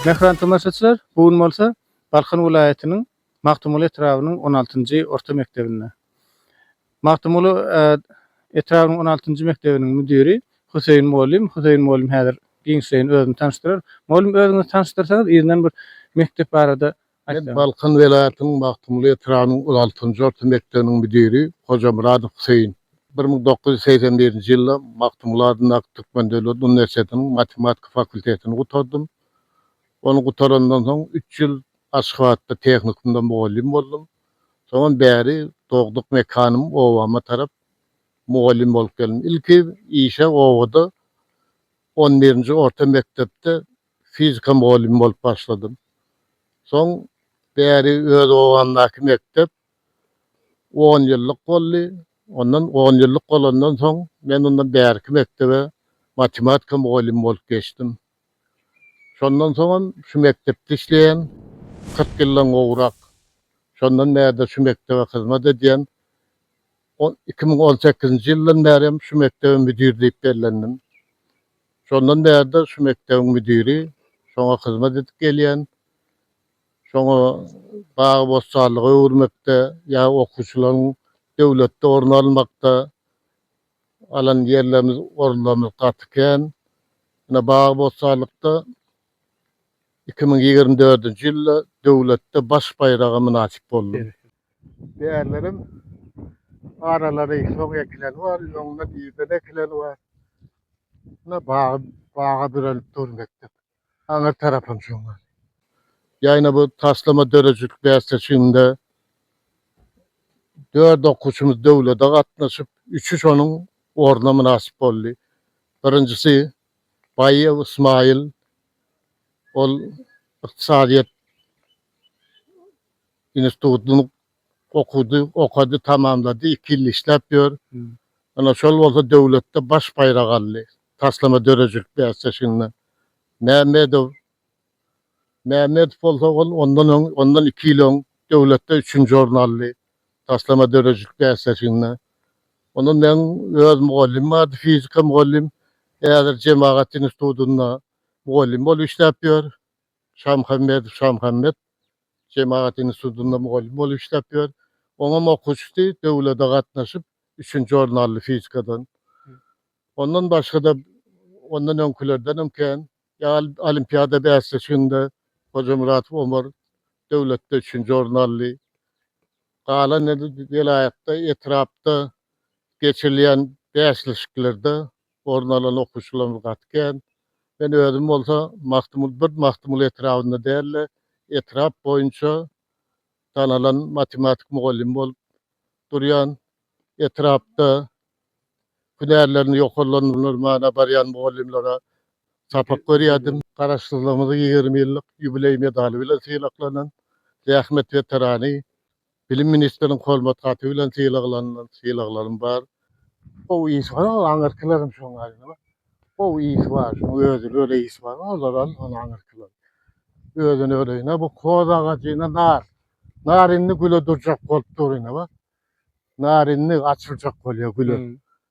Mähriban tomaşaçylar, bu gün bolsa Balkan welaýatynyň Magtymguly etrabynyň on altynjy orta mekdebinde. Magtymguly etrabynyň on altynjy mekdebiniň müdiri Hüseýin mugallym. Hüseýin mugallym häzir giňişleýin özüni tanyşdyrar. Mugallym özüňizi tanyşdyrsaňyz yzyndan bir mekdep barada Men Balkan welaýatynyň Magtymguly etrabynyň on altynjy orta mekdebiniň müdiri Hojamyradow Hüseýin. Bir müň dokuz ýüz segsen birinji ýylda Magtymguly adyndaky Türkmen döwlet uniwersitetiniň matematika fakultetini gutardym. Ony gutarandan soň üç ýyl Aşgabatda tehnikumda mugallym boldum. Soňam bäri dogduk mekanym obama tarap mugallym bolup geldim. Ilki işe obada on birinji orta mekdepde fizika mugallymy bolup başladym. Soň bäri öz obamdaky mekdep on ýyllyk boldy. Ondan on ýyllyk bolandan soň men ondan bärki mekdebe matematika mugallymy bolup geçdim. Şondan soňam şu mekdepde işleýän, kyrk ýyldan gowrak. Şondan bärde şu mekdebe hyzmat edýän. Iki müň on sekizinji ýyldan bäri hem şu mekdebe müdir diýip bellendim. Şondan bäri-de şu mekdebiň müdiri, şoňa hyzmat edip gelýän. Şoňa bagy-bossanlyga öwürmekde ýa okuwçylaryň döwletde orun almakda alan ýerlerimiz, orunlarymyz gaty kän. Ine, bagy-bossanlykda iki müň ýigrimi dördünji ýylda döwletde baş baýraga mynasyp boldum. Bärleriň aralary soň ekileni bar, öňünden irden ekileni bar. Ine bagy, baga bürenip dur mekdep. Aňyr tarapam şoň ýaly. Ýagny bu taslama döredijilik bäsleşiginde dört okuwçymyz döwlete gatnaşyp, üçi şonuň ornuna mynasyp boldy. Birinjisi Baýew Ysmaýyl, ol ykdysadyýet Institutyny okudy, okady, tamamlady, iki ýyl işläp ýör. Ýöne şol bolsa döwletde baş baýrak aldy, taslama döredijilik bäsleşiginde. Mämmedow Mämmedow bolsa ol ondan öň, ondan iki ýyl öň döwletde üçünji orny aldy, taslama döredijilik bäsleşiginde. Ondan meň öz mugallymym bardy, fizika mugallym. Häzir Jemagat institutynda mugallym bolup işläp ýör. Şamuhammedow Şamuhammet Jemagat institutynda mugallym bolup işläp ýör. Oňam okuwçysy döwlete gatnaşyp, üçünji orun aldy fizikadan. Ondan başga-da, ondan öňkülerdenem kän. Ýa olimpiada bäsleşiginde Hojamuratow Omar döwletde üçünji orun aldy. Galan indi welaýatda, etrapda geçirilýän bäsleşiklerde orun alan okuwçylarymyz gaty kän. Men özüm bolsa Magtymguly bir Magtymguly etrabynda däl-de, etrap boýunça tanalan matematik mugallymy bolup durýan. Etrapda hünärlerini ýokarlandyrmana barýan mugallymlara sapak berýärdim. Garaşsyzlygymyzyň ýigrimi ýyllyk ýubileý medaly bilen sylaklanan zähmet weterany. Bilim ministriniň hormat haty bilen sylaglanylan sylaglarym bar. Gowy iş bar ol aňyrkyleriň şoň aýdymy gowy iş bar şoň özi öle iş bar olar al ol aňyrkylar özüni öle ine bu hoz agajy ine nar nar indi güle durjak bolup dur ine bar nar indi açyljak bolýar güle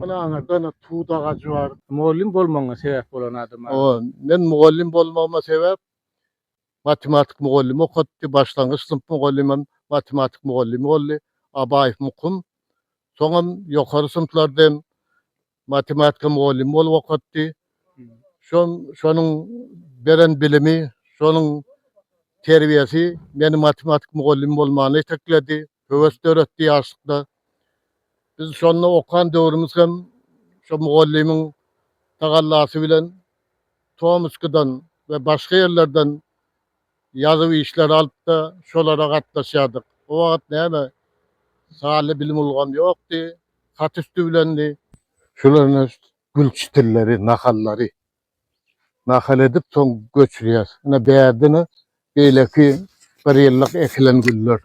Galaňyzda ynha tut agajy bar. Mugallym bolmagyňa sebäp bolan adam bar. Hawa, men mugallym bolmagyma sebäp matematik mugallymy okatdy, başlangyç synp mugallymym matematik mugallymy boldy, Abaýew Mukum. Soňam ýokary synplarda hem matematika mugallymy bolup okatdy. Şol şonuň beren bilimi, şonuň terbiýesi meni matematik mugallymy bolmana itekledi, höwes döretdi ýaşlykda. Biz şonda okan döwrümiz hem şo mugallymyň tagallasy bilen Tomskydan we başga ýerlerden ýazuw işleri alyp-da, şolara gatnaşýardyk. O wagt näme, sanly bilim ulgamy ýokdy, hat üsti bilendi. Şular Gül çitilleri, nahallary nahal edip soň göçürýäs. Ine bärde ine beýleki bir ýyllyk ekilen güller.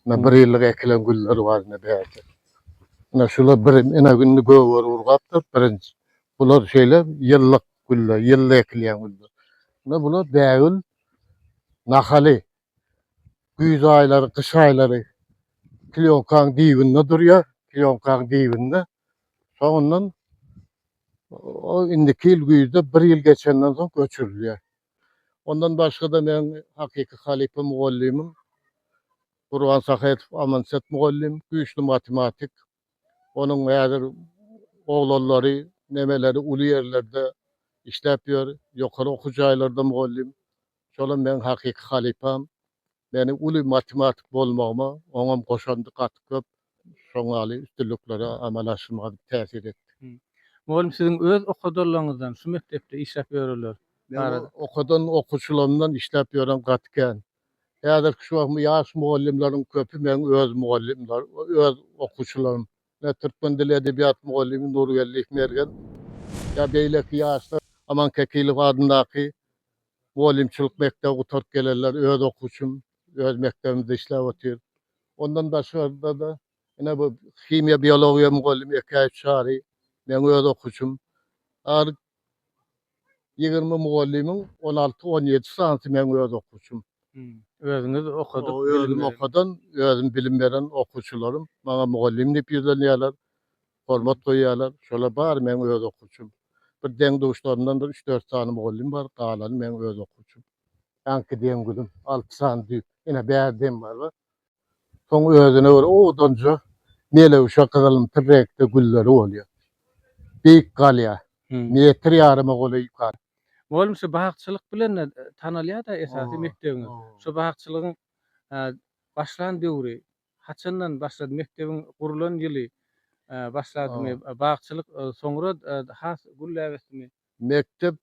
Ine bir ýyllyk ekilen güller bar ine bärde. Ine şular bir ine indi göwher urgapdyr birinji. Bular şeýle ýyllyk güller, ýylda ekilýän güller. Ine bular bägül nahaly. Güýz aýlary, gyş aýlary klýonkaň dibinde durýar, klýonkaň dibinde. Soňundan o indiki ýyl güýzde bir ýyl geçenden soň göçürilýär. Ondan başga-da meniň hakyky halypa mugallymym Gurban Sahetow Amanset mugallym, güýçli matematik. Onuň häzir oglanlary, neneleri uly ýerlerde işläp ýör, ýokary okuw jaýlarda mugallym. Şolam meň hakyky halypam. Meniň uly matematik bolmagyma oňam goşandy gaty köp. Şoň ýaly üstünliklere amala aşyrmaga täsir etdi. Mugallym siziň öz okadanlaryňyzdan, şu mekdepde işläp ýörenler barada. Meň okadan okuwçylarymdan işläp ýören gaty kän. Häzirki şu wagt ýaş mugallymlaryň köpi meň öz mugallymlarym, öz okuwçylarym. Ine, türkmen dili, edebiýat mugallymy Nurgeldiýew Mergen ýa beýleki ýaşlar Aman Kekilow adyndaky mugallymçylyk mekdebi gutaryp gelenler, öz okuwçym, öz mekdebimizde işläp otyr. Ondan daşgary-da, ine, bu himiýa-biologiýa mugallymy Ekäýew Çary, meň öz okuwçym. Ary Ýigrimi mugallymyň on alty, on ýedi sanysy meň öz okuwçym. Özümiz okadyk, bilim okadan, özüm bilim beren okuwçylarym maňa mugallym diýip ýüzlenýärler, hormat goýýarlar. Şolar bary meň öz okuwçym. Bir deň-duşlarymdan bir üç-dört sany mugallym bar, galany meň öz okuwçym. Aňki deň-duýym alty sany düýp. Ine, bärde hem bar, Soň özüne bir odanja melewşe gyzylymtyr reňkde gülleri bolýar. Beýik galýar. Metr ýaryma golaý ýukaryk. Mugallym şu bakçylyk bilen-de tanalýar-da esasy mekdebiňiz. Şu bakçylygyň başlan döwri, haçandan başlady, mekdebiň gurlan ýyly başladymy, bakçylyk soňra has gülläp ötdümi? Mekdep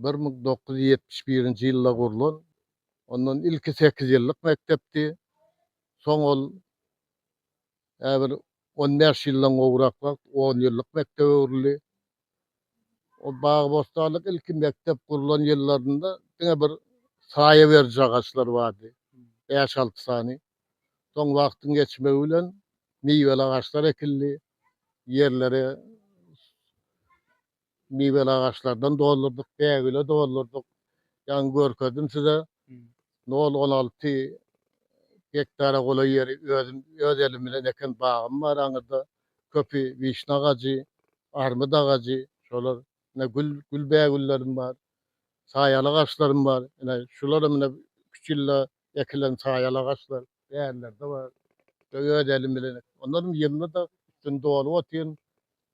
bir müň dokuz ýüz ýetmiş birinji ýylda gurlan, ondan ilki sekiz ýyllyk mekdepdi, soň ol ä bir on bäş ýyldan gowrak wagt on ýyllyk mekdebe öwrüldi. O bagy-bossanlyk ilki mekdep gurlan ýyllarynda diňe bir saýa beriji agaçlar bardy, bäş-alty sany. Soň wagtyň geçmegi bilen miweli agaçlar ekildi, ýerlere miweli agaçlardan doldurdyk, bägüle doldurdyk. Ýaňy görkezdim size. Nol on alty gektara golaý ýeri özüm öz elim bilen eken bagym bar aňyrda. Köpi wişna agajy, armyt agajy, şolar. Ine gül gül bägüllerim bar. Saýaly agaçlarym bar. Ine şularym ine üç ýylda ekilen saýaly agaçlar. Bärlerde bar. Öz elim bilen. Onlarym ýylda-da üstüni dolup otyryn.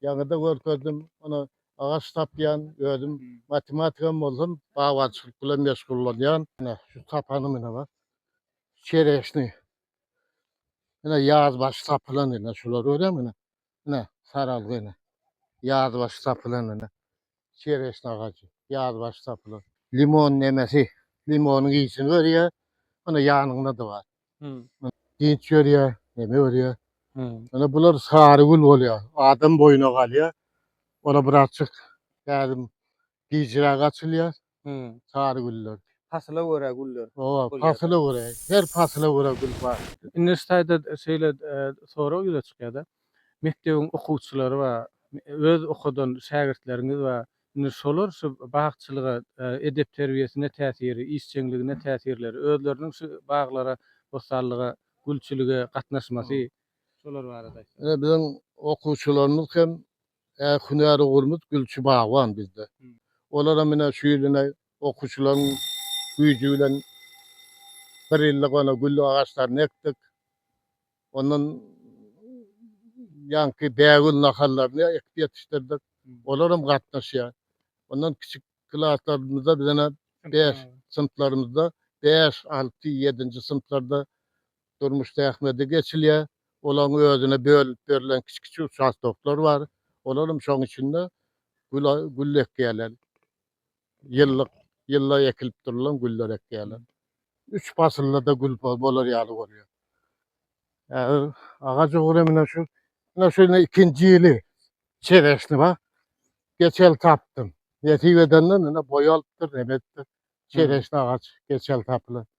Ýaňyda görkezdim. Ony agaç tapýan, özüm matematikam bolsam, bagbançylyk bilen meşgullanýan. Ine, şu tapanym ine bar. Çereşniý. Ine, ýaz başy tapylan ine, şulary görýäňmi ine? Ine, saralgy ine. Ýaz başy tapylan ine. çereşna agajy, ýaz başy tapylan. Limon nemesi, limonyň ysini berýär, ana ýanyňda-da bar. Dynç berýär, neme berýär. Ýöne bular sary gül bolýar, adam boýuna galýar. Ora birazçyk häzim gijiräk açylýar. Hmm, sary güller. Pasyla görä güller. Owa, pasyla görä. Her pasyla görä gül bar. Indi şu taýda şeýle sorag ýüze çykýar-da. Mekdebiň okuwçylary bar. Öz okadan şägirtleriňiz bar. Indi şolar şu bagçylyga, edep-terbiýesine täsiri, işjeňligine täsirleri, özleriniň şu baglara, bossanlyga, gülçülige gatnaşmasy, şolar barada aýtsaňyz. Ine, biziň okuwçylarymyz hem Äk hünär ugrumyz gülçi bagban bizde. Olaram ine şu ýyl ine okuwçylaryň güýji bilen bir ýyllyk ine gül agaçlaryny ekdik. Ondan ýaňky bägül nahallaryny ekip ýetişdirdik. Olaram gatnaşýar. Ondan kiçi klaslarymyzda biz ine bäş synplarymyzda bäş, alty, ýedinji synplarda durmuş zähmeti geçilýär. Olaryň özüne bölünip berlen kiçi-kiçi uçastoklar bar. Olar hem şoň içinde güla gül ekýärler. Ýyllyk, ýylla ekilip durulan güller ekýärler. Üç pasylda-da gül bolar ýaly bolýar. Häzir agaç ugry menä şu, ine şu indi ikinji ýyly. Çereşni bar. Geçen ýyl tapdym. Nesip edenden indi boý alypdyr, nebetdir. Çereşni agaç geçen ýyl tapylan.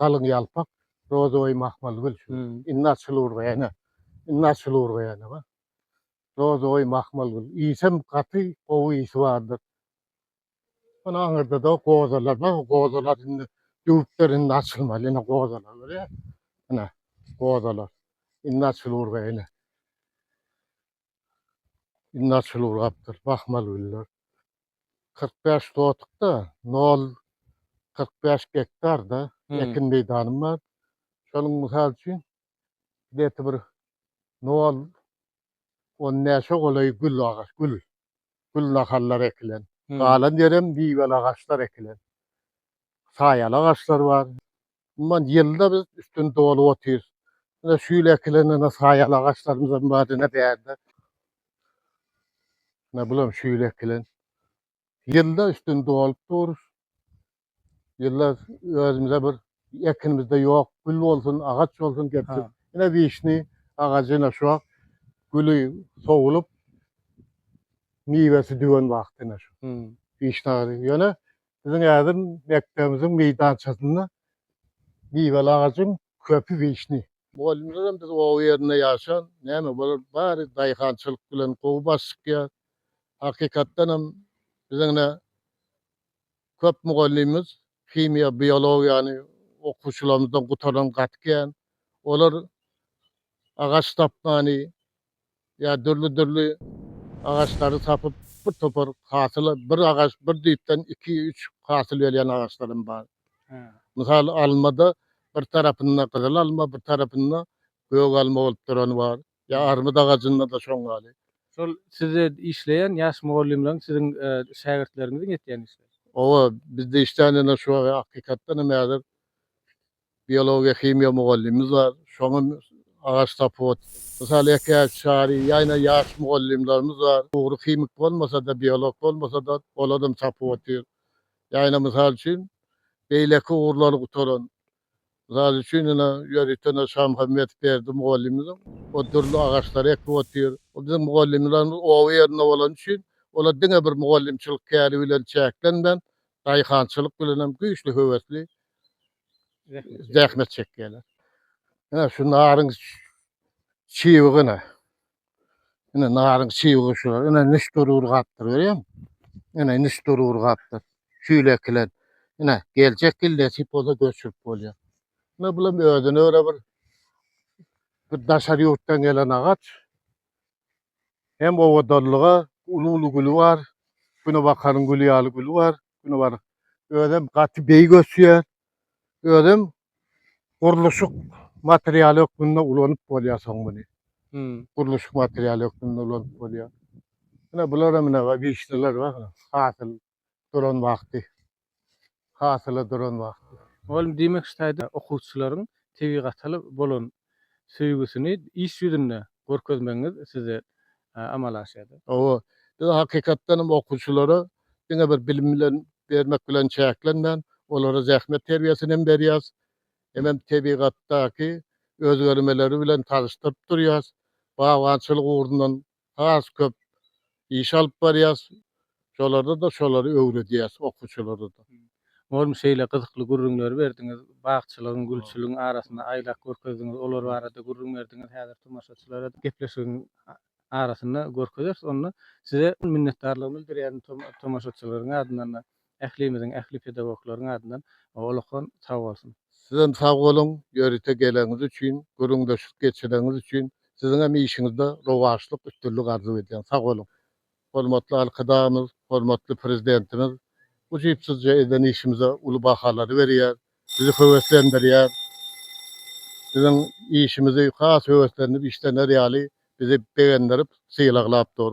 galyň ýalpak, rozoýý mahmal gül şu. Indi açylyr bu ene. Indi açylyr bu ene baý. Rozoýý mahmal gül. Iýsem gaty gowy iýsi bardyr. Ony aňyrda-da gozalar bar. O gozalar indi düwüpdir, indi açylmaz. Ine gozalar görýäňmi? Ine gozalar. Indi açylyr bu ene. Indi açylyp urapdyr. Bakmaly güller. 45 sotykda 0,45 gektarda hmm. ekin meýdanym bar. Şonuň mysal üçin deti bir 0 on näçe golaý gül agaç, gül. Gül nahallar ekilen. Hmm. Galan ýerem miweli agaçlar ekilen. Saýaly agaçlar bar. Umuman, ýylda biz üstüni dolup otyrys. Ine, şu ýyl ekilen ene saýaly agaçlarymyz hem bar, ine, bärde. Ine, bul hem şu ýyl ekilen. Ýylda üstüni dolup durus. Ýylda özümize bir ekinimizde ýok, gül bolsun, agaç bolsun getirip. Ha. Ine, wişni agajy ine şu wagt güli sowulyp, miwesi düwen wagty ine şu. Hmm. Wişna agajy. Ýöne Biziň häzir mekdebimiziň meýdançasynda miweli agajyň köpi wişni. Mugallymlaram biz oba ýerinde ýaşan, näme bolar bary daýhançylyk bilen gowy baş çykýar. Hakykatdan hem biziň ine köp mugallymymyz himiýa, biologiýany okuwçylarymyzdan gutaran gaty kän. Olar agaç tapmany, ýa dürli-dürli agaçlary tapyp, bir topar hasyl, bir agaç, bir düýpden iki, üç hasyl berýän agaçlar hem bar. Mysal, almada bir tarapynda gyzyl alma, bir tarapynda gök alma bolup durany bar. Ýa armyt agajynda-da şoň ýaly. Şol siz işleýän ýaş mugallymlaryň siziň şägirtleriňiziň etýän işleri? Oba, bizde işlän ýene şu wagt hakykatdan hem häzir Biologiýa-himiýa mugallymymyz bar. Şoňa agaç tapyp Mysal ekäýs, çary, ýaýna ýaş mugallymlarymyz bar. Ugry himik bolmasa-da, biolog bolmasa-da, oladam tapyp otyr. Ýaýna mysal üçin, beýleki ugurlary gutaran, mysal üçin, ine, ýörite Şamuhammedow Berdi mugallymymyzyň o dürli agaçlary ekip otyr. Ol biziň mugallymlarymyz oba ýerinde bolany üçin, olar diňe bir mugallymçylyk käri bilen çäklenmän, daýhançylyk bilenem güýçli höwesli. zähmet çekýärler. Ine şu naryň çiwigi ine. Ine naryň çiwigi şular. Ine niş durur gapdyr görýäň? Ine niş durur gapdyr. Şüýle ekilen. Ine geljek ýyl nesip bolsa göçürip bolýar. Ine bulam özüne göre bir bir daşary ýurtdan gelen agaç. Hem owadanlyga uly-uly güli bar. Günebakaryň güli ýaly güli bar. Günebaryň özem gaty beýik ösýär. Özem gurluşyk materialy hökmünde ulanyp bolýar soň muny. Hmm. Gurluşyk materialy hökmünde ulanyp bolýar. Ine bular hem ine wişneler bar. Hasyl duran wagty, hasyla duran wagty. Mugallym diýmek ştaýda okuwçylaryň tebigata bolan söýgüsini iş ýüzünde görkezmegiňiz sizde amala aşýar. Hawa, biz hakykatdan hem okuwçylara diňe bir bilim bilen bermek bilen çäklenmän, olara zähmet terbiýesini hem berýäs, hemem tebigatdaky özgermeleri bilen tazyşdyryp durýas, bagbançylyk ugrundan has köp iş alyp barýas. Şolarda-da şolary öwredýäs okuwçylara-da. Oglum şeýle gyzykly gürrüňleri berdiňiz. Bagçylygyň, gülçüligiň arasynda aýlap görkezdiňiz. Olar barada gürrüň berdiňiz. Häzir tomaşaçylara gepleşigiň arasynda görkezeris onda. Size minnetdarlygymy bildirýärin tomaşaçylaryň adyndan-da. ählimiziň, ähli pedagoglaryň adyndan ullakan sag bolsun! Sizem sag boluň, ýörite geleniňiz üçin, gürrüňdeşlik geçireniňiz üçin. Siziňem işiňizde rowaçlyk, üstünlik arzuw edýän. Sag boluň! Hormatly Arkadagymyz, hormatly Prezidentimiz ujypsyzja eden işimize uly bahalary berýär, bizi höweslendirýär. Biziň işimizi has höweslenip işlener ýaly bizi begendirip, sylaglap dur.